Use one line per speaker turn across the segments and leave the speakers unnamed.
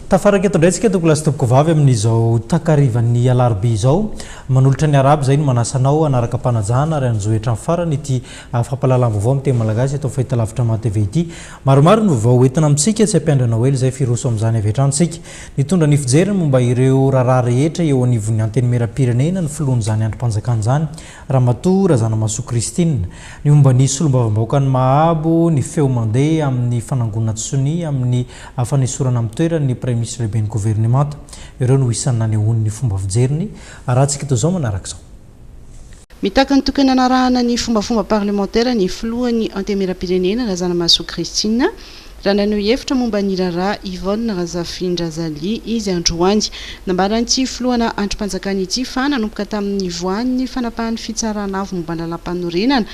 Tafaraka eto indray tsika toko lasitopoko vavy amin'izao takarivan'ny alarobia izao. Manolotra ny arabo izay no manasanao anaraka mpanajana ary anjohetra ny farany ity fampalalam-baovao amin'ny teny malagasy eto amin'ny fahitalavitra Maha TV ity. Maromaro no vao hoentina amintsika tsy hampiandry anao ela izay fa hiroso amin'izany avy hatrany isika. Nitondra ny fijeriny momba ireo raharaha rehetra eo anivon'ny Antenimierampirenena ny filohan'izany andrim-panjakana izany, Ramatoa Razanamahasoa Christine. Ny momba ny solombavambahoakan'i Mahabo, ny feo mandeha amin'ny fanangonana sonia amin'ny fanesorana amin'ny toerany ny Praiminisitra Lehiben'ny Governemanta. Ireo no isan'ny nanehoany ny fomba fijeriny. Arahantsika toy izao manaraka izao. Mitaky
ny tokony hanarahana ny fombafomba parlemantera ny filohan'ny Antemieram-pirenena, Razanamahasoa Christine, raha naneho hevitra momba ny raharaha Yvonne Razafindrazalia izy androany. Nambaran'ity filohana andrim-panjakana ity fa nanomboka tamin'ny nivoahan'ny fanapahan'ny Fitsarana avo momba ny Lalàmpanorenana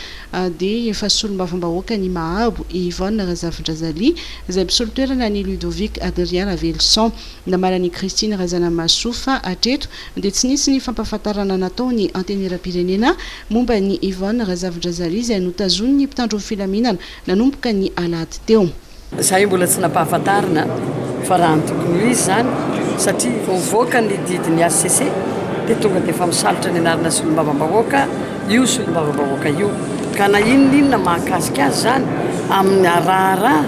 dia efa solombavambahoaka ny Mahabo i Yvonne Razafindrazalia izay mpisolo toerana an'i Ludovic Adrien Raveloson. Nambaran'i Christine Razanamahasoa fa hatreto dia tsy nisy ny fampahafantarana natao ny Antenieram-pirenena momba an'i Yvonne Razafindrazarihy izay notazonin'ny mpitandro ny filaminana nanomboka ny alahady teo. Izahay mbola tsy
nampahafantarina fa raha ny tokony ho izy izany satria vao mivoaka ny didin'ny hcc dia tonga dia efa misalotra ny anarana solombavambahoaka io solombavambahoaka io ka na inona inona mahakasika azy izany amin'ny raharaha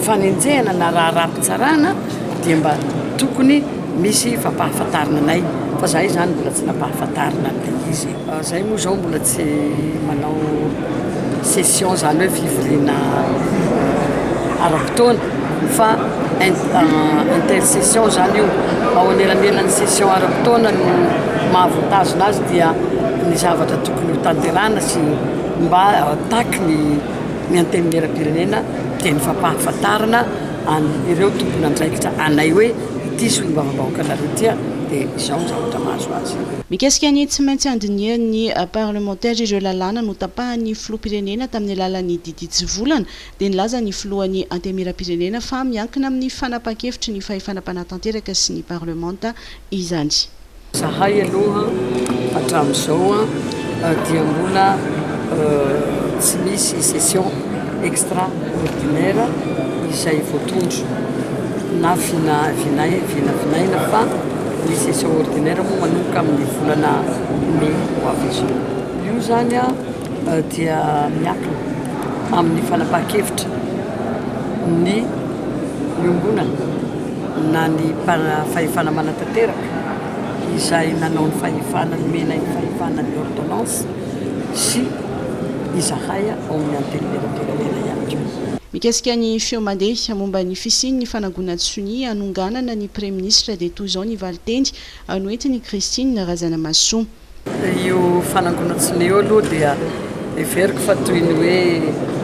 fanenjehana na raharaham-pitsarana dia mba tokony Misy fampahafantarina anay fa zahay zany mbola tsy nampahafantarina an'ilay izy. Zahay moa zao mbola tsy manao session zany hoe fivoriana ara-potoana fa intercession zany io. Ao anelanelan'ny session ara-potoana no mahavantazona azy dia ny zavatra tokony ho tanterahana sy mba taky ny antenimieram-pirenena dia ny fampahafantarana an'ireo tompon'andraikitra anay hoe. Ity solombavambahoakanareo ity dia izao ny zavatra mahazo azy.
Mikasika ny tsy maintsy handinihan'ny parlemantera ireo lalàna notapahan'ny filoham-pirenena tamin'ny alalan'ny Didy Tsivolana dia nilaza ny filohan'ny Antemieram-pirenena fa miankina amin'ny fanapahan-kevitry ny fahefana mpanatanteraka sy ny parlemanta izany. Zahay
aloha hatramin'izao dia mbola tsy misy session extra ordinaire izay voatondro na vinavinaina fa ny session ordinaire moa manomboka amin'ny volana mey ho avy izao. Io izany dia miankina amin'ny fanapahan-kevitra ny iombonana. na ny fahefana manatanteraka izay nanao ny fahefana nomena ny fahefana ny ordonnance sy izahay ao amin'ny Antenimierampirenena ihany koa. Mikasika ny feo
mandeha momba ny fisian'ny fanangonan'ny sonia hanonganana ny Praiminisitra dia toy izao ny valinteny noentin'i Christine Razanamahasoa. Io
fanangonan-tsonia io aloha dia heveriko fa toy ny hoe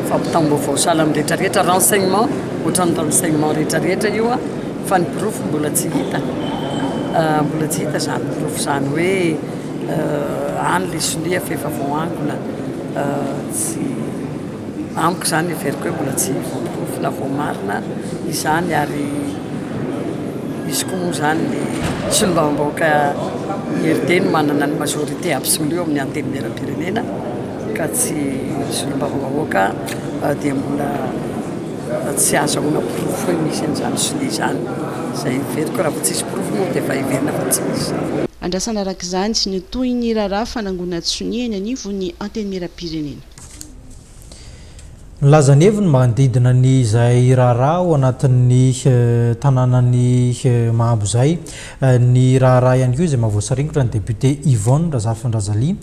fampitam-baovao sahala amin'ny rehetra rehetra, renseignement, ohatran'ny renseignement rehetra rehetra io an, fa ny porofo mbola tsy hita, mbola tsy hita izany porofo izany hoe any ilay sonia fa efa voaangona, tsy. Amiko izany heveriko hoe mbola tsy voaporofo na voamarina izany ary izy koa moa izany ny solombavambahoaka IRD no manana ny majorité absolue ao amin'ny antenimieram-pirenena ka tsy solombavambahoaka euh, dia mbola tsy azo ahoana porofo hoe misy an'izany sonia izany izay heveriko raha vao tsisy porofo moa dia efa heverina fa tsy misy. Andrasana araka
izany ny tohin'ny raharaha fanangonantsy sonia eny anivon'ny antenimieram-pirenena.
Nilaza ny heviny manodidina ny izay raharaha ao anatin'ny tanànan'i Mahambo izay ny raharaha ihany koa izay maha voasaringotra ny depiote Yvonne Razafindrazalia,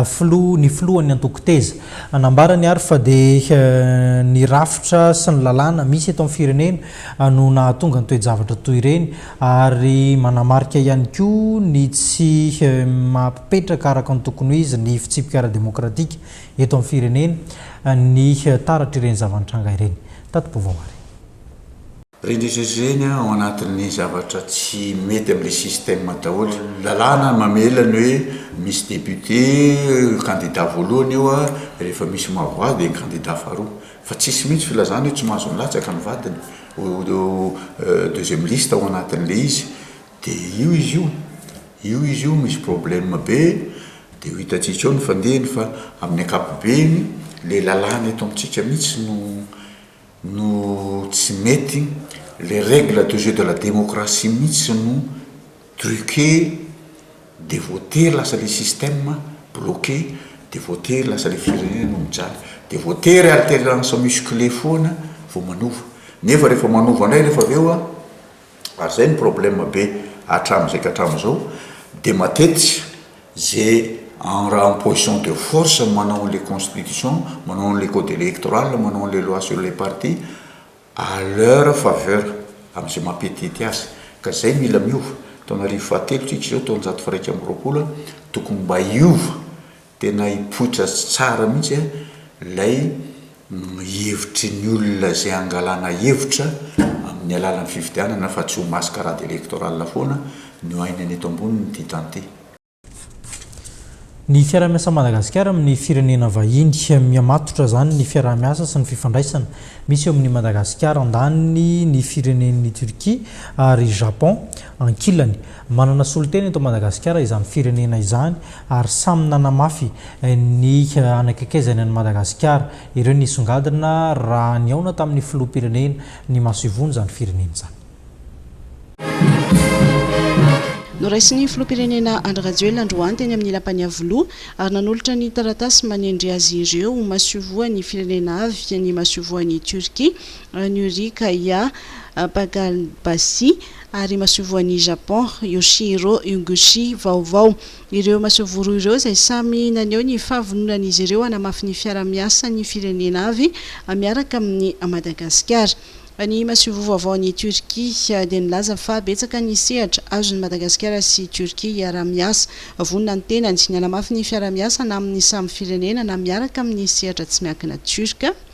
filoha, ny filohan'ny antoko Teza. Nambarany ary fa dia ny rafitra sy ny lalàna misy eto amin'ny firenena no nahatonga ny toe-javatra toy ireny ary manamarika ihany koa ny tsy maha Mipetraka araka ny tokony ho izy ny fitsipika ara-demokratika eto amin'ny firenena ny taratr'ireny zava-nitranga ireny tato Bovawari. Renireny
ao anatin'ny zavatra tsy mety amin'ilay système daholo. Lalàna mamela ny hoe misy député, candidat voalohany io, rehefa misy maha voix dia ny candidat faharoa. Fa tsisy mihitsy filazana hoe tsy mahazo milatsaka ny vadiny ho deuxième liste ao anatin'ilay izy. De io izy io, io izy io misy problème be de ho hitantsika eo ny fandehany fa amin'ny ankapobeny le lalàna eto amintsika mihitsy no no tsy mety, le règle de jeu de la démocratie mihitsy no truqué de voatery lasa le système bloqué de voatery lasa le firenena no mijaly, de voatery alternance musclé foana vao manova, nefa rehefa manova indray rehefa avy eo a. ary zay ny problème be hatramzay ka hatramzao de matetiky ze en raha en position de force manao anle constitution manao anle code electoral manao anle loi sur les partis à leur faveur amze maha petite azy ka zay mila miova taona arivo fahatelo tsika zao taonjato faha iraika amby roapolo tokony mba hiova Tena hipoitra tsara mihitsy a ilay hevitry ny olona izay hangalana hevitra amin'ny alalan'ny fifidianana fa tsy ho mascarade électorale foana ny ho ainany eto amboniny ity tany ity.
Ny fiaraha-miasan'i Madagasikara amin'ny firenena vahiny. Mihamatotra izany ny fiaraha-miasa sy ny fifandraisana misy eo amin'i Madagasikara andaniny, ny firenen'i Turquie, ary Japon ankilany. Manana solontena eto Madagasikara izany firenena izany ary samy nanamafy ny hanakaikaizany an'i Madagasikara ireo nisongadina raha nihaona tamin'ny filoham-pirenena ny masoivohon'izany firenena izany.
Noraisin'ny filoham-pirenena Andry Rajoelina androany teny amin'ny Lapan'i Iavoloha ary nanolotra ny taratasy manendry azy ireo ho masoivohon'ny firenena avy ny masoivohon'i Turquie, Nuri Kaya Pagalbasi. ary masoivohon'i Japon Yoshihiro Uguchi vaovao. Ireo masoivoho roa ireo izay samy naneho ny fahavononan'izy ireo hanamafy ny fiara-miasan'ny firenena avy miaraka amin'i Madagasikara. Ny masoivoho vaovaon'i Turquie dia nilaza fa betsaka ny sehatra azon'i Madagasikara sy Turquie hiaraha-miasa. Vonona ny tenany ny hanamafy ny fiara-miasa na amin'ny samy firenena na miaraka amin'ny sehatra tsy miankina Turc.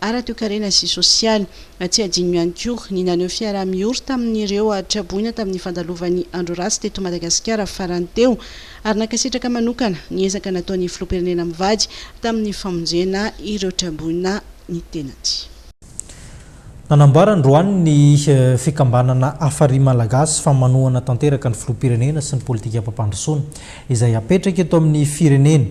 ara-toekarena sy sosialy. Tsy adino ihany koa ny naneho fiaraha-miory tamin'ireo traboina tamin'ny fandalovan'ny Andro Ratsy teto Madagasikara farany teo ary nankasitraka manokana ny ezaka nataon'ny Filoham-pirenena mivady tamin'ny famonjena ireo traboina ny tenany. Nanambara androany ny fikambanana Hafari Malagasy fa manohana tanteraka ny Filoham-pirenena sy ny politikam-pampandrosoana izay apetraka eto amin'ny firenena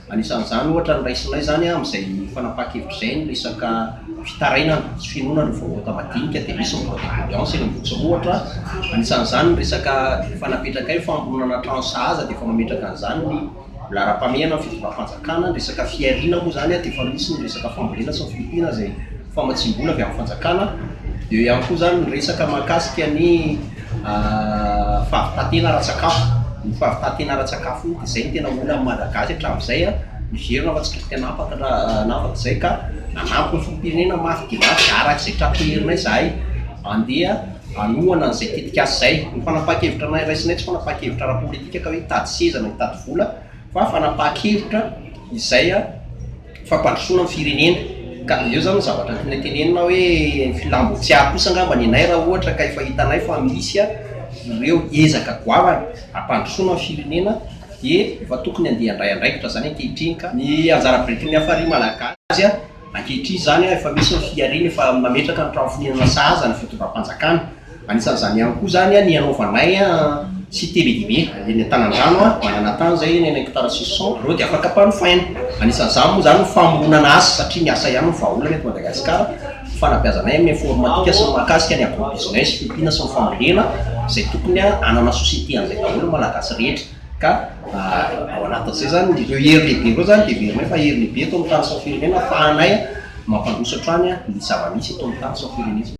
Anisan'izany ohatra ny raisinay izany amin'izay fanapahan-kevitra izay ny resaka fitarainana sy finoana ny vaovaota madinika dia misy ny code de prudence eny Ambohitsoro ohatra anisan'izany ny resaka efa napetrakay ny famoronana trano sahaza dia efa mametraka an'izany ny laharam-pahamehana ny fitondram-panjakana ny resaka fihariana moa izany dia efa misy ny resaka fambolena sy ny fiompiana izay famatsiam-bola avy amin'ny fanjakana eo ihany koa izany ny resaka mahakasika ny Fahavitantena ara-tsakafo, ny fahavitantena ara-tsakafo io dia izay no tena olan'ny Malagasy hatramin'izay an, miverina fa tsy kely tena afaka nanafaka izay ka nanampy ny filoham-pirenena mafy dia mafy araka izay tratry ny herinay izahay handeha hanohana an'izay tetikasa izay. Ny fanapahan-kevitra anay raisinay tsy fanapahan-kevitra ara-politika ka hoe hitady seza na hitady vola fa fanapahan-kevitra izay an. fampandrosoana ny firenena ka avy eo zany ny zavatra tianay tenenina hoe ny filam-botsiahy kosa angamba ny anay raha ohatra ka efa hitanay fa misy a ireo ezaka goavana hampandrosoana ny firenena dia efa tokony andeha handray andraikitra izany ankehitriny ka ny anjara birikin'ny hafari malagasy a ankehitriny izany a efa misy ny fihariana efa mametraka ny trano fonenana sahaza ny fitondram-panjakana Anisan'izany ihany koa izany ny anaovanay site be dia be eny an-tanan-drano, manana tany izay eny amin'ny hekitara sisy cent, ireo dia afaka ampanofaina. Anisan'izany moa izany ny famoronana asa satria ny asa ihany no vahaolana eto Madagasikara. Ny fanabeazanay amin'ny informatika sy ny mahakasika ny agro-business, fiompiana sy ny fambolena izay tokony hanana société an'izay daholo ny Malagasy rehetra ka ao anatin'izay izany ireo hery lehibe ireo izany dia heverinay fa hery lehibe eto amin'ny tany sy ny firenena ahafahanay mampandroso hatrany ny zava-misy eto amin'ny tany sy ny firenena.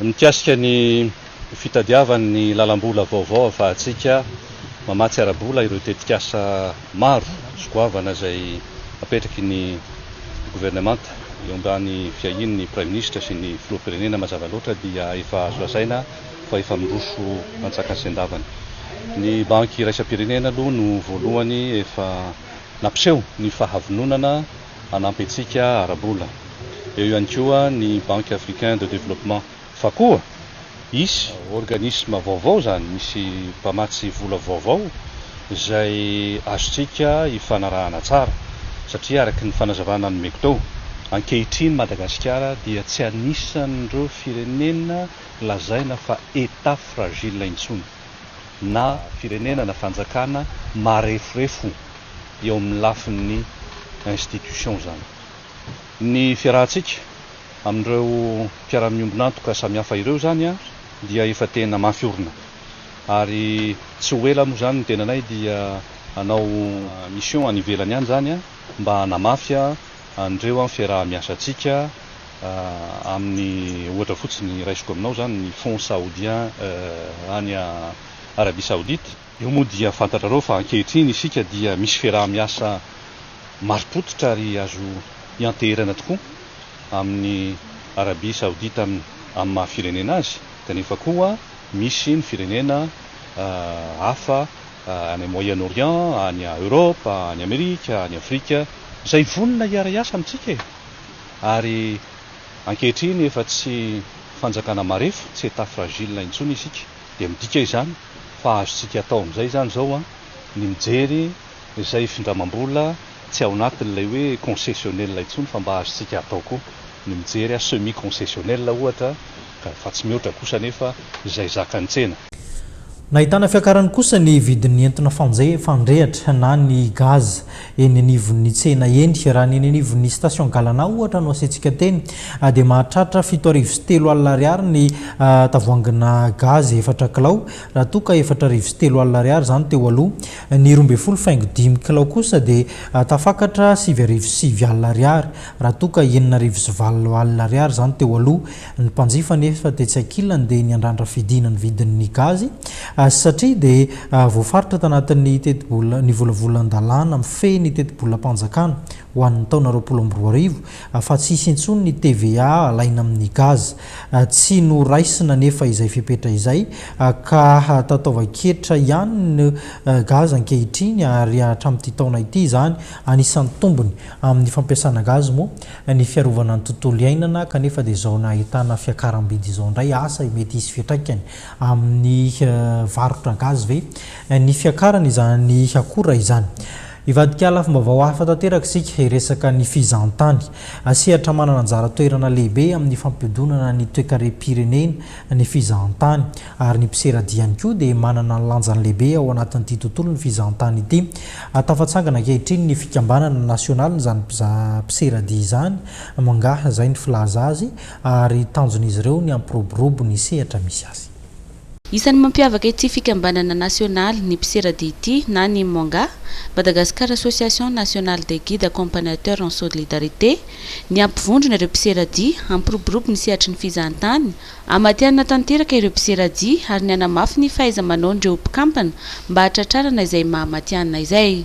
Mikasika ny fitadiavany ny lalam-bola vaovao ahafahantsika mamatsy ara-bola ireo tetikasa maro sy goavana izay apetraky ny governemanta eo ambany fiahiany ny Praiminisitra sy ny Filoham-pirenena mazava loatra dia efa azo lazaina fa efa miroso antsakan-sendavany. Ny Banky Iraisam-pirenena aloha no voalohany efa nampiseho ny fahavononana hanampy antsika ara-bola. Eo ihany koa ny Banque Africain de Développement fa koa hisy organisme vaovao izany, misy mpamatsy vola vaovao izay azontsika ifanarahana tsara satria araka ny fanazavana nomeko teo, ankehitriny Madagasikara dia tsy anisan'ireo firenena lazaina fa Etat fragile intsony. na firenena na fanjakana mareforefo eo amin'ny lafin'ny institutions izany. Ny fiarahantsika amin'ireo mpiara-miombon'antoka samihafa ireo izany dia efa tena mafy orina ary tsy ho ela moa izany ny tenanay dia hanao mission any ivelany any izany mba hanamafy anreo am fiaraha miasa tsika aminy ohatra fotsiny raisiko aminao zany ny fonds saoudien any Arabie saoudite eo moa dia fantatrareo fa ankehitriny isika dia misy fiaraha miasa maripototra ary azo ianteherana tokoa aminy Arabie saoudite aminy maha firenena azy kanefa koa misy ny firenena hafa any Moyen Orient, any Europe, any Amerika, any Afrika, izay vonona hiara-hiasa amintsika e! Ary ankehitriny efa tsy fanjakana marefo, tsy Etat fragile intsony isika, dia midika izany fa azontsika atao amin'izay izany izao an, ny mijery izay findramam-bola, Tsy ao anatin'ilay hoe concessionnel intsony fa mba azontsika atao koa ny mijery a semi concessionnel ohatra ka fa tsy mihoatra kosa anefa izay zakan'ny tsena. Nahitana
fiakarany kosa ny vidin'ny entona fandrehatra na ny gaz eny anivon'ny tsena eny. Raha ny eny anivon'ny station Galana ohatra no asiantsika teny dia mahatratra fito arivo sy telo alina ariary ny tavoahangina gaz efatra kilao raha toa ka efatra arivo sy telo alina ariary izany teo aloha Ny roa ambin'ny folo faingo dimy kilao kosa dia tafakatra sivy arivo sy sivy alina ariary, raha toa ka enina arivo sy valo alina ariary izany teo aloha. Ny mpanjifa anefa tetsy ankilany dia niandrandra fidina ny vidin'ny gazy satria dia voafaritra tanatin'ny tetibola ny volavolan-dalàna mifehy ny tetibolam-panjakana ho an'ny taona roapolo amby roa arivo fa tsy hisy intsony ny TVA alaina amin'ny gazy. Tsy noraisina anefa izay fepetra izay ka tataovan-ketra ihany ny gaz ankehitriny ary hatramin'ity taona ity izany anisan'ny tombony amin'ny fampiasana gaz moa ny fiarovana ny tontolo iainana kanefa dia izao nahitana fiakaram-bidy izao indray asa mety hisy fiantraikany amin'ny varotra gaz ve ny fiakarana izany akora izany? Hivadika lafim-baovao hafa tanteraka isika hiresaka ny fizahantany. Sehatra manana anjara toerana lehibe amin'ny fampihodonana ny toekarem-pirenena ny fizahantany. Ary ny mpisera dihy ihany koa dia manana ny lanjany lehibe ao anatin'ity tontolon'ny fizahantany ity. Tafatsangana ankehitriny ny fikambanana nasionalin'izany mpizaha mpisera dihy izany, Mngaha izay ny filaza azy, ary tanjon'izy ireo ny hampiroborobo ny sehatra misy azy. Isan'ny
mampiavaka ity fikambanana nasionaly ny mpiseradia ity na ny MONGA, Madagascar Association Nationale des Guides Accompagnateurs en Solidarité, ny hampivondrona ireo mpiseradia, hampiroborobo ny sehatry ny fizahantany, hamatihanina tanteraka ireo mpiseradia ary ny hanamafy ny fahaiza-manaon'ireo mpikampana mba hahatratrarana izay maha-matihanina izay.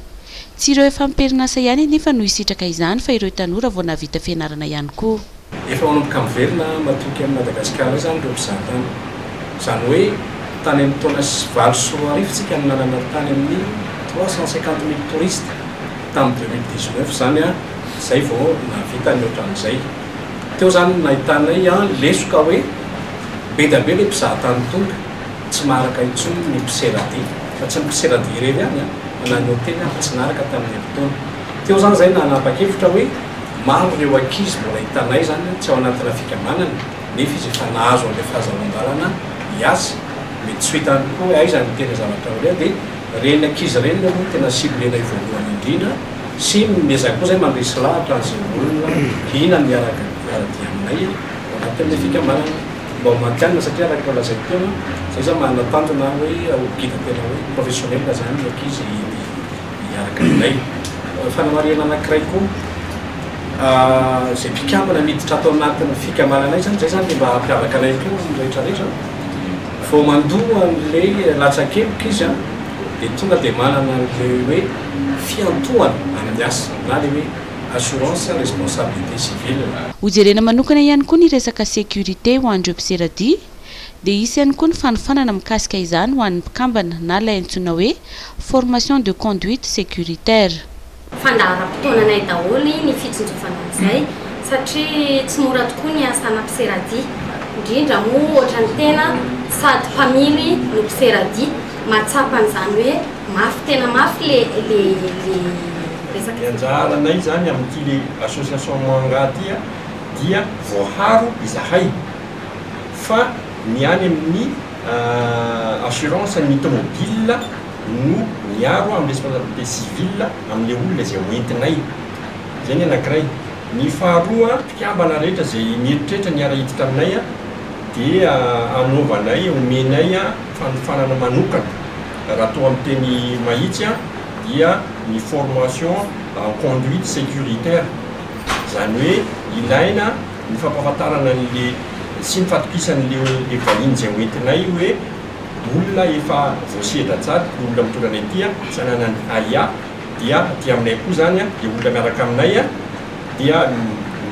Tsy ireo efa am-perinasa ihany anefa no hisitraka izany fa ireo tanora vao nahavita fianarana ihany koa. Efa manomboka
miverina matoky an'i Madagasikara izany ireo mpizahatany. Izany hoe tany amin'ny taona valo sy roa arivo tsika no nanana tany amin'ny trois cent cinquante mille touristes, tamin'ny deux mille dix neuf izany an, izay vao nahavita ny ohatran'izay. Teo izany no nahitanay an lesoka hoe be dia be ilay mpizahatany tonga, tsy maharaka intsony ny mpisera dia, fa tsy ny mpisera dia irery ihany an, na ny hotely aza tsy naharaka tamin'ny herintaona. Teo izany izahay nanapa-kevitra hoe maro ireo ankizy mbola hitanay izany tsy ao anatina fikambanana nefa izy efa nahazo an'ilay fahazavandalana hiasa. Mety tsy ho hitany koa hoe aiza no tena zavatra ilaina dia ireny ankizy ireny aloha no tena ciblenay voalohany indrindra sy nomezany koa izahay mandresy lahatra an'izay olona liana miaraka hiara-dia aminay ao anatin'ilay fikambanana mba ho matihanina satria araka ny nolazaiko teo an, izay izany manana tanjona hoe ho guide tena hoe professionnel izany ny ankizy eny. hiaraka aminay. Fanamarihana anankiray koa, izay mpikambana miditra ato anatin'ny fikambananay izany, izay izany dia mba hampiavaka anay koa amin'ny rehetrarehetra, vao mandoa an'ilay latsakeloka izy an, dia tonga dia manana ilay hoe fiantohana amin'ny asa na ilay hoe assurance responsabilité civile. Hojerena manokana
ihany koa ny resaka sécurité ho an'ireo mpisera-dia, Dia hisy ihany koa ny fanofanana mikasika izany ho an'ny mpikambana na ilay antsoina hoe formation de conduite sécuritaire. Fandaharam-potoananay
daholo ny fitsinjovana an'izay satria tsy mora tokoa ny asanà mpisera-dia, indrindra moa ohatran'ny tena sady mpamily no mpisera-dia, mahatsapa an'izany hoe mafy tena mafy le resaka. Ny
anjaranay izany amin'ity le association Moanga ity dia voaharo izahay fa ny any amin'ny assurance ny tomobile no miaro amin'ny responsabilité civile amin'ilay olona izay hoentinay. Izay ny anankiray. Ny faharoa, mpikambana rehetra izay mieritreritra ny hiara-hiditra aminay dia anaovanay, omenay fanofanana manokana. Raha toa amin'ny teny mahitsy dia ny formation en conduite sécuritaire. Izany hoe ilaina. ny fampahafantarana an'le sy ny fatokisan'leo le vahiny izay ho entinay hoe olona efa voasedra tsara io olona mitondra anay ity a, tsy ananan'ny aia dia aty aminay koa zany a, le olona miaraka aminay a, dia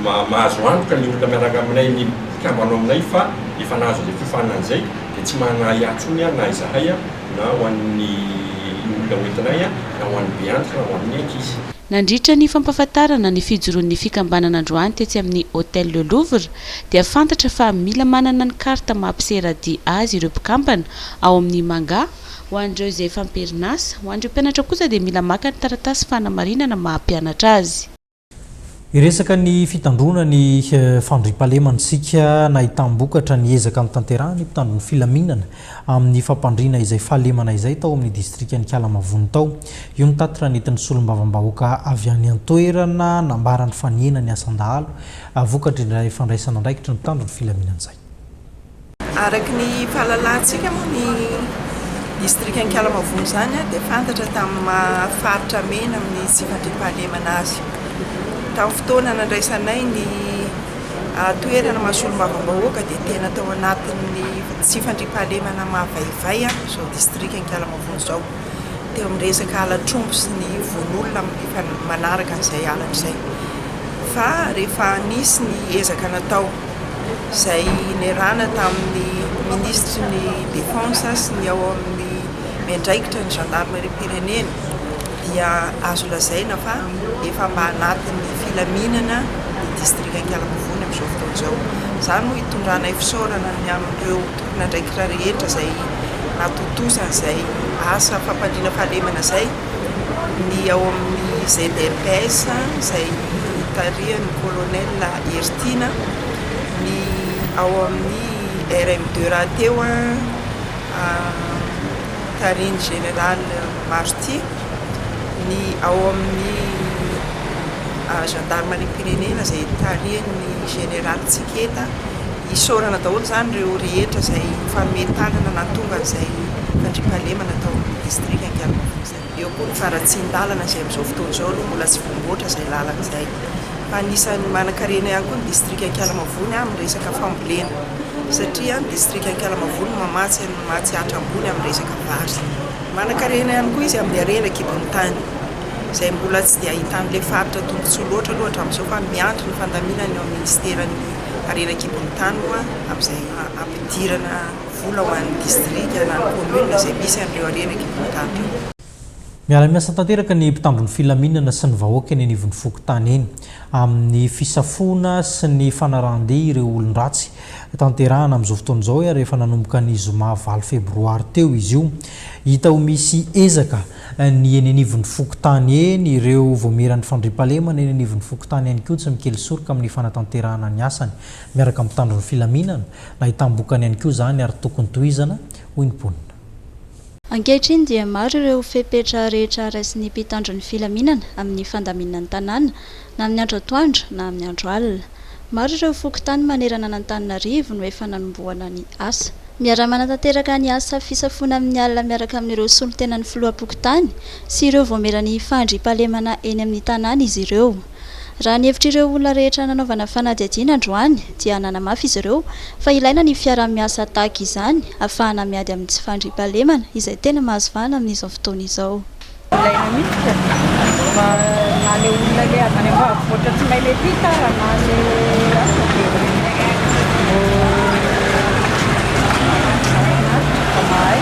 mahazo antoka le olona miaraka aminay le mpikambana ao aminay fa efa nahazo izay fiofanana izay dia tsy manana aia intsony a na izahay a na ho an'ny olona ho entinay a na ho an'ny be antitra na ho an'ny ankizy. Nandritra ny
fampahafantarana ny fijoroan'ny fikambanana androany tetsy amin'ny Hotel Le Louvre dia fantatra fa mila manana ny carte maha mpisera dia azy ireo mpikambana ao amin'ny Manga ho an'ireo izay efa am-perinasa, ho an'ireo mpianatra kosa dia mila maka ny taratasy fanamarinana maha mpianatra azy. Hiresaka
ny fitandroana ny fandriampahalemana isika nahitam-bokatra ny ezaka notanterahan'ny mpitandro ny filaminana amin'ny fampandriana izay fahalemana izay tao amin'ny distrikan'Ikalamavony tao. Io ny tatitra nentin'ny solombavambahoaka avy any an-toerana nambarany fa nihena ny asan-dahalo vokatr'ilay fandraisana andraikitry ny mpitandro ny filaminan'izay. Araka
ny fahalalantsika moa ny distrikan'Ikalamavony izany dia fantatra tamin'ny maha faritra mena amin'ny tsy fandriampahalemana azy. Tamin'ny fotoana nandraisanay ny. toerana mahasolombavambahoaka dia tena tao anatin'ny tsy fandriampahalemana mahavaivay izao distrika Ankalamavony izao, teo amin'ny resaka halatr'omby sy ny vono-olona manaraka an'izay halatra izay. Fa rehefa nisy ny ezaka natao izay nerana tamin'ny minisitry ny defense sy ny ao amin'ny miandraikitra ny gendarmerie-m-pirenena, dia azo lazaina fa efa mba anatin'ny filaminana ny distrika Ankalamavoany amin'izao fotoana izao. Izany no hitondranay fisaorana ny amin'ireo tompon'andraikitra rehetra izay natontosa izay asa fampandriana fahalemana izay, ny ao amin'ny ZRPS izay tarihan'ny Colonel Hery Tiana, ny ao amin'ny RMD rahateo tarihin'ny Général. Marty, ny ao amin'ny zandarimariam-pirenena izay tarihin'ny Jeneraly Tsiketa, isaorana daholo izany ireo rehetra izay nifanome tanana nahatonga an'izay fandriampahalemana tao amin'ny Distrika Ankalamabo izay. Eo koa ny faharatsian-dalana izay amin'izao fotoana izao aloha mbola tsy voamboatra izay lalana izay. Fa anisan'ny manan-karena ihany koa ny Distrika Ankalamabo ny amin'ny resaka fambolena satria ny Distrika Ankalamabo no mamatsy an'i Matsiatra ambony amin'ny resaka vary. Manankarena ihany koa izy amin'ny harena an-kibon'ny tany, izay mbola tsy dia ahitan'ilay faritra tombontsoa loatra aloha hatramin'izao fa miandry ny fandaminana eo amin'ny minisiteran'ny harena an-kibon'ny tany moa amin'izay hampidirana vola ho an'ny distrika na ny kaominina izay misy an'ireo harena an-kibon'ny tany ireo. Miara-miasa
tanteraka ny mpitandron'ny filaminana sy ny vahoaka eny anivon'ny fokontany eny, amin'ny fisafoana sy ny fanarahan-dia ireo olon-dratsy Tanterahana amin'izao fotoana izao ary efa nanomboka ny zoma valo febroary teo izy io. Hita ho misy ezaka ny eny anivon'ny fokontany eny, ireo voamieran'ny fandriampahalemana eny anivon'ny fokontany ihany koa tsy mikely soroka amin'ny fanatanterahana ny asany miaraka amin'ny mpitandro ny filaminana. Nahitam-bokany ihany koa izany ary tokony tohizana, hoy ny mponina. Ankehitriny
dia maro ireo fepetra rehetra raisin'ny mpitandro ny filaminana amin'ny fandaminana ny tanàna na amin'ny andro atoandro na amin'ny andro alina. Maro ireo fokontany manerana an'Antananarivo no efa nanombohana ny asa. Miara-manatanteraka ny asa fisafoana amin'ny alina miaraka amin'ireo solontenan'ny filoham-pokontany sy ireo voamieran'ny fahandriampahalemana eny amin'ny tanàna izy ireo. Raha ny hevitr'ireo olona rehetra nanaovana fanadihadiana androany dia nanamafy izy ireo fa ilaina ny fiaraha-miasa tahaka izany hahafahana miady amin'ny tsy fandriampahalemana izay tena mahazo vahana amin'izao fotoana izao. Ilaina
mihitsy e! Fa na le olona le avy any ambanivohitra tsy mahay le tic ara na le aza de vao zaraina aza vao mahay.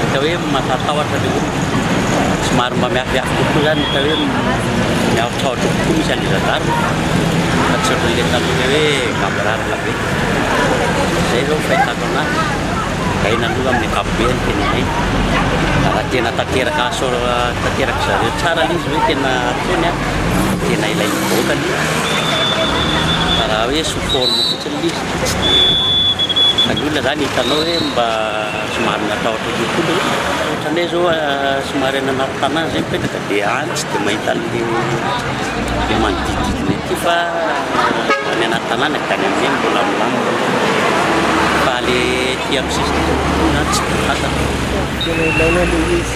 Hita hoe matahatahotra ilay olona, somary mba miafiafy kokoa izany, hita hoe miahotrahotra kokoa misy an'ilay zandarme fa tsy ohatran'ilay taloha ilay hoe gaboraraka be. Izay izao ny fahitako an'azy, aina aloha amin'ny ankapobeny tenenay, raha tena tanteraka asaora tanteraka zareo tsara ilay izy hoe tena ataony an, tena ilain'ny vahoaka ilay izy fa raha hoe sous forme fotsiny. Ny olona zany hitanao hoe mba somary matahotra kokoa le ohatran'ny hoe zao somary any anaty tanàna zay mipetraka de any tsy de mahita an'le le manodidididna ety fa any anaty tanàna de any am'zay mbola milamina fa le ety amin'ny sisiny kokoa zany tsy de fantatra. Tena ilaina
le izy.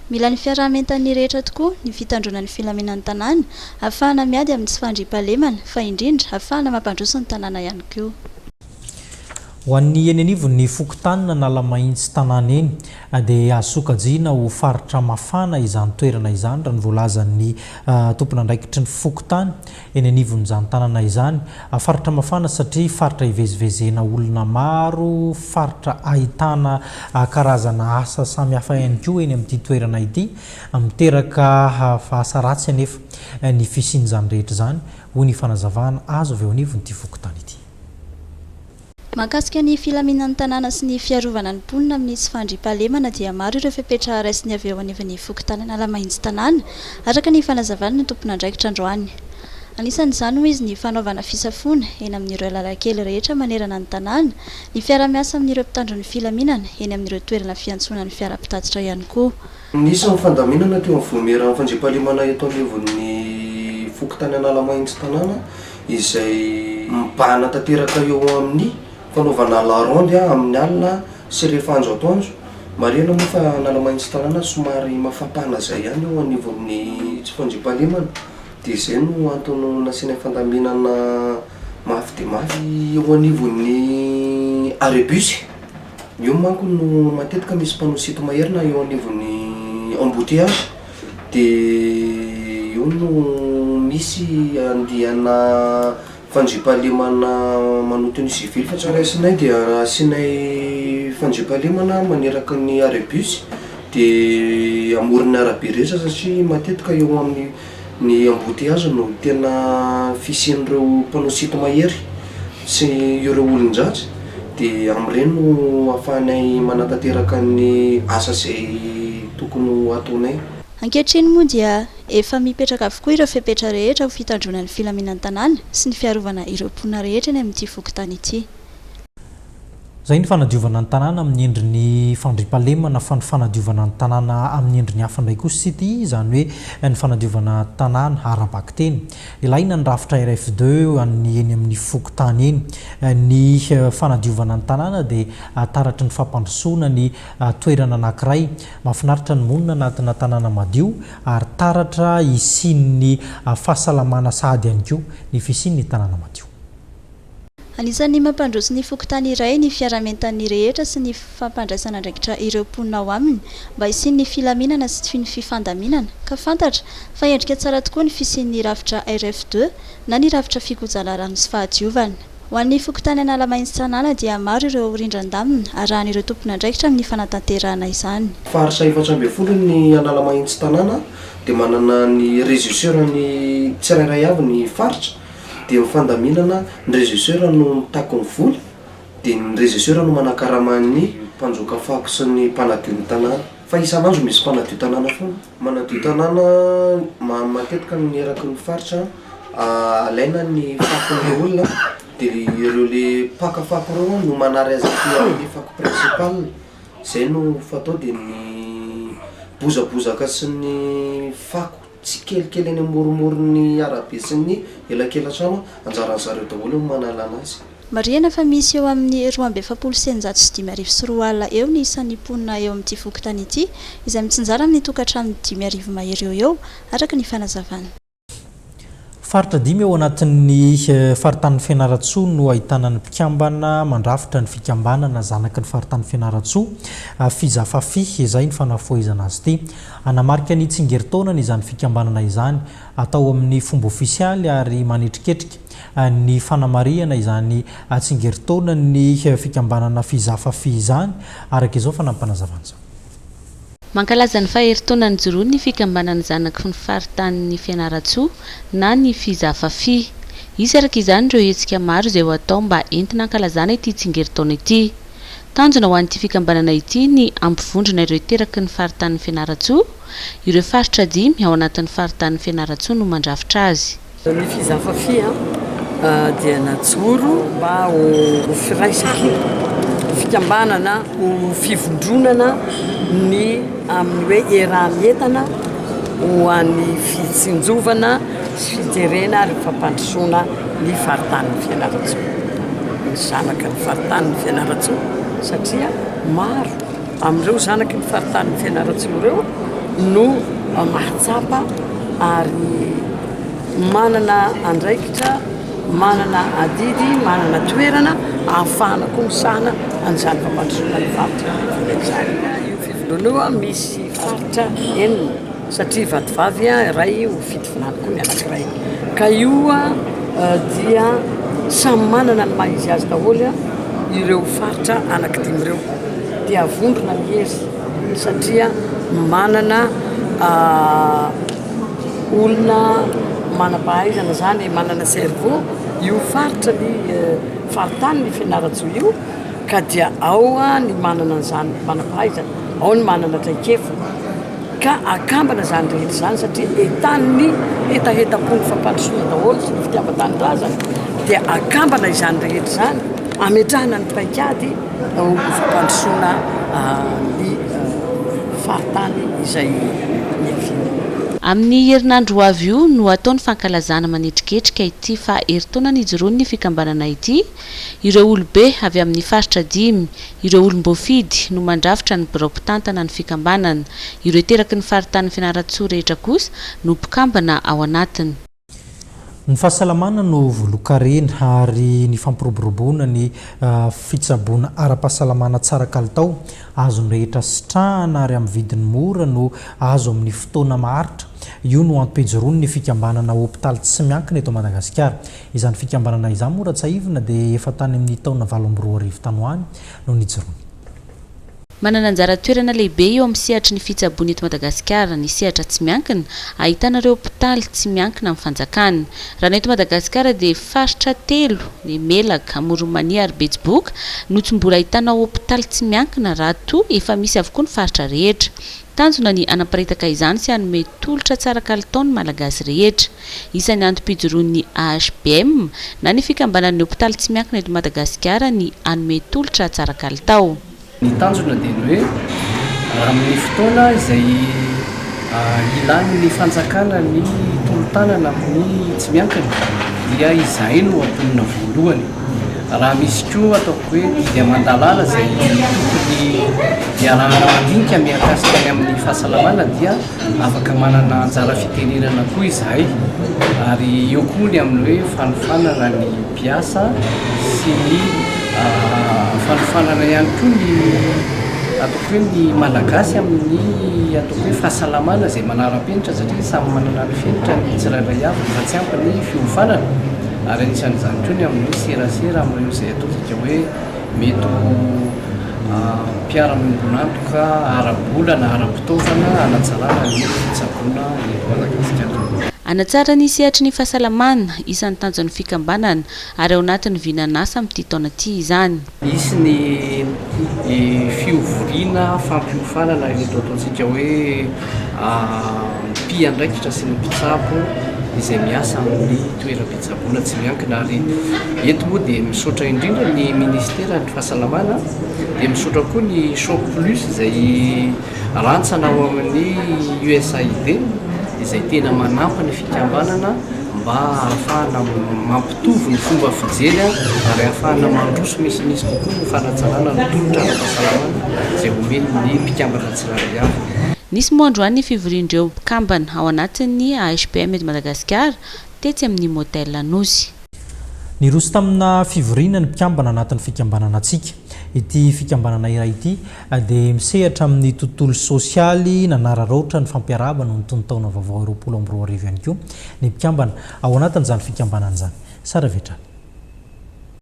Mila ny fiaraha-mientan'ny rehetra tokoa ny fitandroana ny filaminan'ny tanàna, hahafahana miady amin'ny tsy fandriampahalemana, fa indrindra hahafahana mampandroso ny tanàna ihany koa.
Ho an'ny eny anivon'ny fokontany n'Analamahitsy tanàna eny, dia hahasokajiana ho faritra mafana izany toerana izany, raha ny voalazan'ny tompon'andraikitry ny fokontany, Eny anivon'izany tanana izany, faritra mafana satria faritra ivezivezena olona maro, faritra ahitana karazana asa samihafa ihany koa eny amin'ity toerana ity. Miteraka asa ratsy anefa ny fisian'izany rehetra izany, hoy ny fanazavana azo avy eo anivon'ity fokontany ity. Mahakasika
ny filaminan'ny tanàna sy ny fiarovana ny mponina amin'ny tsy fandriampahalemana dia maro ireo fepetra raisiny avy eo anivon'ny fokontany Analamahitsy tanàna, araka ny fanazavan'ny tompon'andraikitra androany. Anisan'izany hoy izy ny fanaovana fisafoana eny amin'ireo lalan-kely rehetra manerana ny tanàna, ny fiara-miasa amin'ireo mpitandro ny filaminana eny amin'ireo toerana fiantsonan'ny fiara mpitatitra ihany koa. Nisy ny fandaminana
teo amin'ny Vaomieran'ny fandriampahalemana eto anivon'ny fokontany Analamahintsy tanàna izay mibahana tanteraka eo amin'ny fanaovana la ronde amin'ny alina sy rehefa andro atoandro. Marihina moa fa Analamahintsy tanàna somary mafampana izay ihany eo anivon'ny fandriampahalemana dia izay no antony nasiana fandaminana mafy dia mafy eo anivon'ny arrêt bus. Eo manko no matetika misy panneau sito maherina eo anivon'ny embouteillage dia eo no misy andiana fandriampahalemana manoto ny civil fa tsy raisinay dia asianay fandriampahalemana maneraka ny arrêt bus dia amoron'ny arabe rehetra satria matetika eo amin'ny Ny embouteillages no tena fisian'ireo mpanao site mahery sy ireo olon-dratsy dia amin'ireny no ahafahanay manatanteraka ny asa izay tokony ho ataonay. Ankehitriny moa
dia efa mipetraka avokoa ireo fepetra rehetra ho fitandroana ny filaminan'ny tanàna sy ny fiarovana ireo mponina rehetra eny amin'ity fokontany ity.
Izay ny fanadiovana ny tanàna amin'ny endriny fandriampahalemana fa ny fanadiovana ny tanàna amin'ny endriny hafa indray kosa sity izany hoe ny fanadiovana tanàna ara-bakiteny. Ilaina ny rafitra RFD an'ny eny amin'ny fokontany eny. Ny fanadiovana ny tanàna dia taratry ny fampandrosoana ny toerana anankiray. Mahafinaritra ny monina anatina tanàna madio ary taratra hisian'ny fahasalamana sahady ihany koa ny fisian'ny tanàna madio.
Anisan'ny mampandroso ny fokontany iray ny fiaraha-mientan'ny rehetra sy ny fampandraisana andraikitra ireo mponina ao aminy mba hisian'ny filaminana sy ny fifandaminana ka fantatra fa endrika tsara tokoa ny fisian'ny rafitra RF deux na ny rafitra fikojaana rano sy fahadiovana. Ho an'ny fokontany Analamaintsy Tsanala dia maro ireo rindran-damina arahan'ireo tompon'andraikitra amin'ny fanatanterahana izany. Faritra efatra ambin'ny
folo ny Analamaintsy Tanàna dia manana ny regisseurany tsirairay avy ny faritra. Dia ny fandaminana, ny regisseur no mitaky ny vola, dia ny regisseur no manakarama ny mpanjoka fako sy ny mpanadio ny tanàna. Fa isan'andro misy mpanadio tanàna foana. Manadio tanàna matetika ny eraky ny faritra, alaina ny fakon'ilay olona dia ireo le mpaka fako ireo no manary azy aty amin'ny fako principal, izay no fatao dia ny bozabozaka sy ny fako. tsikelikely eny amoromoron'ny arabe sy ny elakelatrano, anjaran'ny zareo daholo ny manalana azy. Marihina fa misy
eo amin'ny roa amby efapolo sy eninjato sy dimy arivo sy roa alina eo ny isan'ny mponina eo amin'ity fokontany ity, izay mitsinjara amin'ny tokantrano dimy arivo mahery eo ho eo, araka ny fanazavan'ny.
Faritra dimy ao anatin'ny faritanin'i Fianarantsoa no ahitana ny mpikambana mandrafitra ny fikambanana zanaky ny faritanin'i Fianarantsoa, Fizafafi, izay ny fanafohezana azy ity. Hanamarika ny tsingerin-taonany izany fikambanana izany, atao amin'ny fomba ofisialy ary manetriketrika ny fanamarihana izany tsingerin-taonan'ny fikambanana Fizafafi izany, araka izao fa nampanazavana izao.
Mankalaza ny faheritaona nijoroany ny fikambanana zanaky ny faritanin'i Fianarantsoa na ny Fizafafi. Hisy araka izany ireo hetsika maro izay ho atao mba entina hankalazana ity tsingerin-taona ity. Tanjona ho an'ity fikambanana ity ny hampivondrona ireo hiteraky ny faritanin'i Fianarantsoa. Ireo faritra dimy ao anatin'ny faritanin'i Fianarantsoa no mandrafitra azy. Ny Fizafafi
dia najoro mba ho firaisaky ny fikambanana ho fivondronana ny amin'ny hoe eranentana ho an'ny fitsinjovana sy fijerena ary fampandrosoana ny faritanin'i Fianarantsoa, ny zanaka ny faritanin'i Fianarantsoa satria maro. Amin'ireo zanaky ny faritanin'i Fianarantsoa ireo no mahatsapa ary manana andraikitra, manana adidy, manana toerana ahafahana koa misahana an'izany fampandrosoana ny faritra Mahaolana izany. Io fivoriana io misy faritra enina satria vatovavy iray ho fitovinany koa ny anankiray ka io dia samy manana ny maha izy azy daholo ireo faritra anaky dimy ireo. dia avondrona ny hery satria manana olona manam-pahaizana izany, manana cerveau io faritra ny faritany ny Fianarantsoa io ka dia ao ny manana izany manam-pahaizana, ao ny manana traikefa ka akambana izany rehetra izany satria entan'ny hetahetam-pon'ny fampandrosoana daholo sy ny fitiavan-tanindrazana dia akambana izany rehetra izany, ametrahana ny paikady. Atao fampandrosoana ny faritany izay niaviany. Amin'ny
herinandro ho avy io no hatao ny fankalazana manetriketrika ity faha herintaona nijoroan'ny fikambanana ity. Ireo olobe avy amin'ny faritra dimy, ireo olom-boafidy, no mandrafitra ny birao mpitantana ny fikambanana. Ireo teraky ny faritanin'i Fianarantsoa rehetra kosa no mpikambana ao anatiny. Ny
fahasalamana no volon-karena ary ny fampiroboroboana ny fitsaboana ara-pahasalamana tsara kalitao, azon'ny rehetra sitrahana ary amin'ny vidiny mora no azo amin'ny fotoana maharitra. Io no antohejiron'ny fikambanana hopitaly tsy miankina eto Madagasikara. Izany fikambanana izany moa raha tsahivina dia efa tany amin'ny taona valo amby roa arivo tany ho any no nijoroany.
Manana anjara toerana lehibe eo amin'ny sehatry ny fitsaboana eto Madagasikara ny sehatra tsy miankina, ahitana ireo hopitaly tsy miankina amin'ny fanjakana. Raha ny eto Madagasikara dia faritra telo, ny Melaka, Amoron'Mania ary Betsiboka, no tsy mbola ahitana hopitaly tsy miankina raha toa efa misy avokoa ny faritra rehetra. Tanjona ny hanaparitaka izany sy hanome tolotra tsara kalitao ny Malagasy rehetra. Isan'ny antom-pijoroan'ny AHBM na ny fikambanan'ny hopitaly tsy miankina eto Madagasikara ny hanome tolotra tsara kalitao. Ny tanjona
dia ny hoe amin'ny fotoana izay ilan'ny fanjakana ny tolo-tanana amin'ny tsy miankina dia izahay no hampiomina voalohany. Raha misy koa ataoko hoe dia aman-dalàna izay tokony iarahana mandinika mihakasika ny amin'ny fahasalamana dia afaka manana anjara fitenenana koa izahay ary eo koa ny amin'ny hoe fanofanana ny mpiasa sy ny fanofanana ihany koa ny ataoko hoe ny malagasy amin'ny ataoko hoe fahasalamana izay manara-penitra satria samy manana ny fenitra ny tsirairay avy fa tsy ampy ny fiofanana. Ary anisan'izany koa ny amin'ny hoe serasera amin'ireo izay ataontsika hoe mety ho mpiara-miombon'antoka ara-bola na ara-pitaovana hanatsarana ny fitsaboana eto Madagasikara. Hanatsara ny
sehatry ny fahasalamana, isan'ny tanjon'ny fikambanana, ary ao anatin'ny vinan'asa amin'ity taona ity izany. Hisy ny
fihovoriana fampiofanana ireto ataontsika hoe mpiandraikitra sy ny mpitsabo izay miasa amin'ny toeram-pitsaboana tsy miankina ary eto moa dia misaotra indrindra ny ministeran'ny fahasalamana dia misaotra koa ny shop plus izay Rantsana ao amin'ny USAID izay tena manampy ny fikambanana mba hahafahana mampitovy ny fomba fijery ary hahafahana mandroso misimisy kokoa ny fanatsanana ny tolotra ara-pahasalamana izay homen'ny mpikambana tsirairay avy. Nisy moa androany ny
fivorian'ireo mpikambana ao anatin'ny AHPM eto Madagasikara, tetsy amin'ny Motel Anosy. Niroso
tamina fivoriana ny mpikambana anatin'ny fikambanana Atsika. Ity fikambanana iray ity, Na dia misehatra amin'ny tontolo sosialy nanararaotra ny fampiarahaba noho ny tonon-taona vaovao roapolo amby roa arivo ihany koa ny mpikambana ao anatin'izany fikambanana izany. Sary avy hatrany.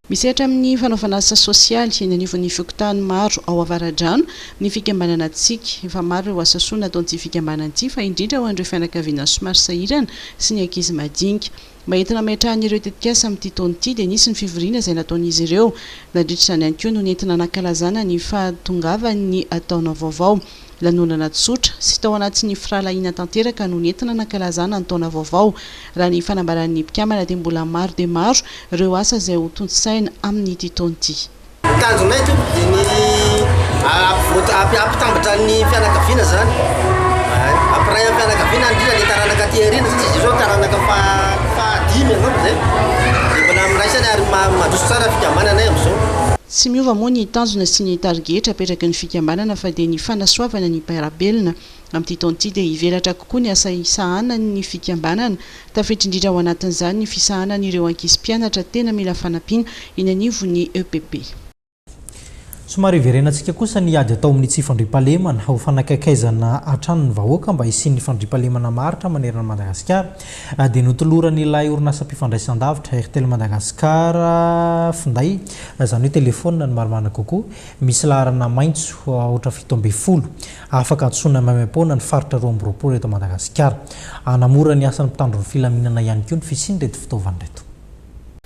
Misehatra amin'ny fanaovana asa sosialy eny anivon'ny fokontany maro ao Avaradrano ny fikambanana Tsiky. Efa maro ireo asa soa nataon'ity fikambanana ity fa indrindra ho an'ireo fianakaviana somary sahirana sy ny ankizy madinika. Mba entina hametrahany ireo tetikasa amin'ity taona ity dia nisy ny fivoriana izay nataon'izy ireo. Nandritra izany ihany koa no nentina nankalazana ny fahatongavan'ny taona vaovao. Lanonana tsotra sy tao anatin'ny firahalahiana tanteraka no nentina nankalazana ny taona vaovao. Raha ny fanambaran'ny mpikambana dia mbola maro dia maro ireo asa izay ho tontosaina amin'ity taona ity. Tanjonay
eto dia ny hampitambatra ny fianakaviana izany, hampiray am-pianakaviana indrindra ny taranaka aty aoriana satria izao taranaka fahadimy angamba izay dia mbola miraisana ary mandroso tsara ny fikambananay amin'izao. Tsy miova moa
ny tanjona sy ny tarigetra apetraky ny fikambanana fa dia ny fanasoavana ny mpiara-belona. Amin'ity taona ity dia hivelatra kokoa ny asa isahanan'ny fikambanana, tafiditra indrindra ao anatin'izany ny fisahanan'ireo ankizy mpianatra tena mila fanampiana eny anivon'ny EPP.
Somary hiverenantsika kosa ny ady atao amin'ny tsy fandriampahalemana, ho fanakaikaizana hatrany ny vahoaka mba hisian'ny fandriampahalemana maharitra manerana an'i Madagasikara, dia notoloran'ilay orinasam-pifandraisandavitra Airtel Madagascar finday, izany hoe telefaonina ny marimarina kokoa, misy laharana maitso aotra fito ambin'ny folo. Afaka antsoina maimaim-poana ny faritra roa amby roapolo eto Madagasikara. Hanamora ny asan'ny mpitandro ny filaminana ihany koa ny fisian'ireto fitaovana ireto.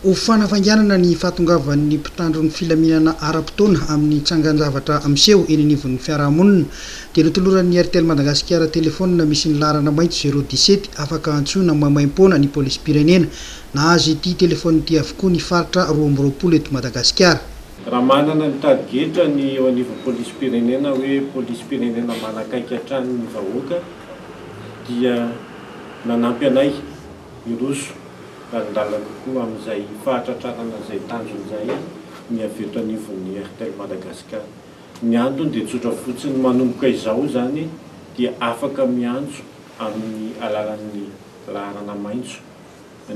Ho
fanafainganana ny fahatongavan'ny mpitandro ny filaminana ara-potoana amin'ny tsangan-javatra miseho eny anivon'ny fiarahamonina, dia notoloran'ny Airtel Madagasikara telefaonina misy ny laharana maitso zéro dix-sept afaka antsoina maimaim-poana ny polisim-pirenena. Nahazo ity telefaonina ity avokoa ny faritra roa amby roapolo eto Madagasikara. Raha manana
ny tadigetra ny eo anivon'ny polisim-pirenena hoe polisim-pirenena manakaiky hatrany ny vahoaka dia nanampy anay hiroso lalindalina kokoa amin'izay fahatratrarana izay tanjona izay ny avy eto anivon'ny Airtel Madagascar. Ny antony dia tsotra fotsiny, manomboka izao izany dia afaka miantso amin'ny alalan'ny laharana maitso.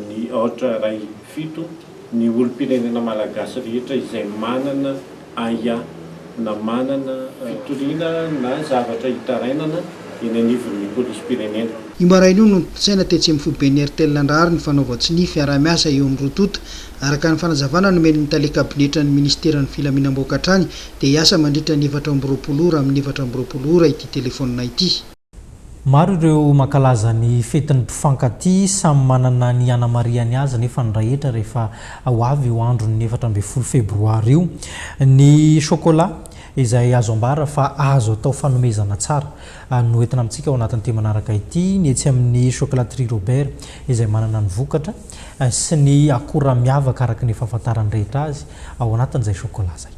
ny aotra iray fito ny olom-pirenena malagasy rehetra izay manana aia na manana fitoriana na zavatra hitarainana eny anivon'ny polisim-pirenena. Io maraina io no
notolosaina tetsy amin'ny foiben'ny Airtel handrahary ny fanaovan-tsonia ny fiaraha-miasa eo amin'ny roa tonta. Araka ny fanazavana nomen'ny tale kabinetran'ny minisiteran'ny filaminam-bahoaka hatrany dia hiasa mandritra ny efatra amby roapolo ora amin'ny efatra amby roapolo ora ity telefaonina ity. Maro
ireo mankalaza ny fetin'ny mpifankatia samy manana ny hanamariany azy nefa ny rahetra rehefa ho avy io andron'ny efatra ambin'ny folo febroary io. Ny chocolat izay azo ambara fa azo atao fanomezana tsara no entina amintsika ao anatin'ity manaraka ity ny etsy amin'ny chocolaterie Robert izay manana ny vokatra sy ny akora miavaka araka ny fahafantaran'ny rehetra azy ao anatin'izay chocolat izay.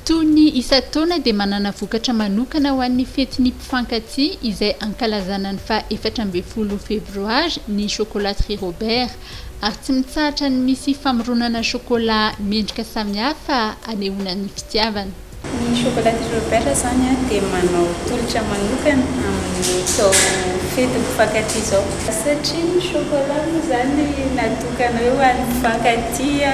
Toy ny isan-taona dia manana vokatra manokana ho an'ny fetin'ny mpifankatia izay ankalazana ny faha efatra ambin'ny folo febroary ny Chocolaterie Robert ary tsy mitsahatra ny misy famoronana chocolat mendrika samihafa anehoana ny fitiavana. Ny Chocolaterie
Robert izany dia manao tolotra manokana amin'izao fetin'ny mpifankatia izao. Satria ny chocolat moa izany natokana hoe ho an'ny mpifankatia.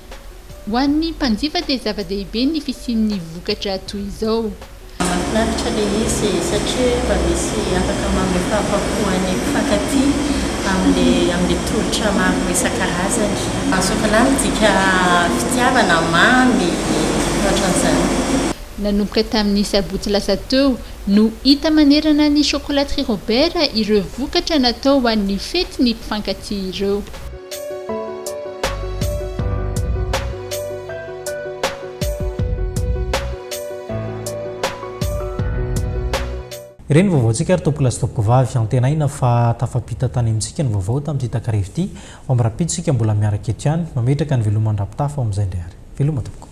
Ho an'ny mpanjifa dia zava-dehibe ny fisian'ny vokatra toy izao. Mahafinaritra
ilay izy satria mba misy afaka manome fahafapo an'ny mpifankatia amin'ilay amin'ilay tolotra maro isan-karazany. Any sôkôlà midika fitiavana, mamy, ohatran'izany. Nanomboka
tamin'ny sabotsy lasa teo no hita manerana ny Chocolaterie Robert ireo vokatra natao ho an'ny fetin'ny mpifankatia ireo.
Ireny vaovaontsika ry tompokolahy sy tompokovavy, antenaina fa tafampita tany amintsika ny vaovao tamin'ity takariva ity, ao amin'ny rahampitso isika mbola miaraka eto ihany, mametraka ny veloman-dRapitafa ao amin'izay indray ary. Veloma tompoko.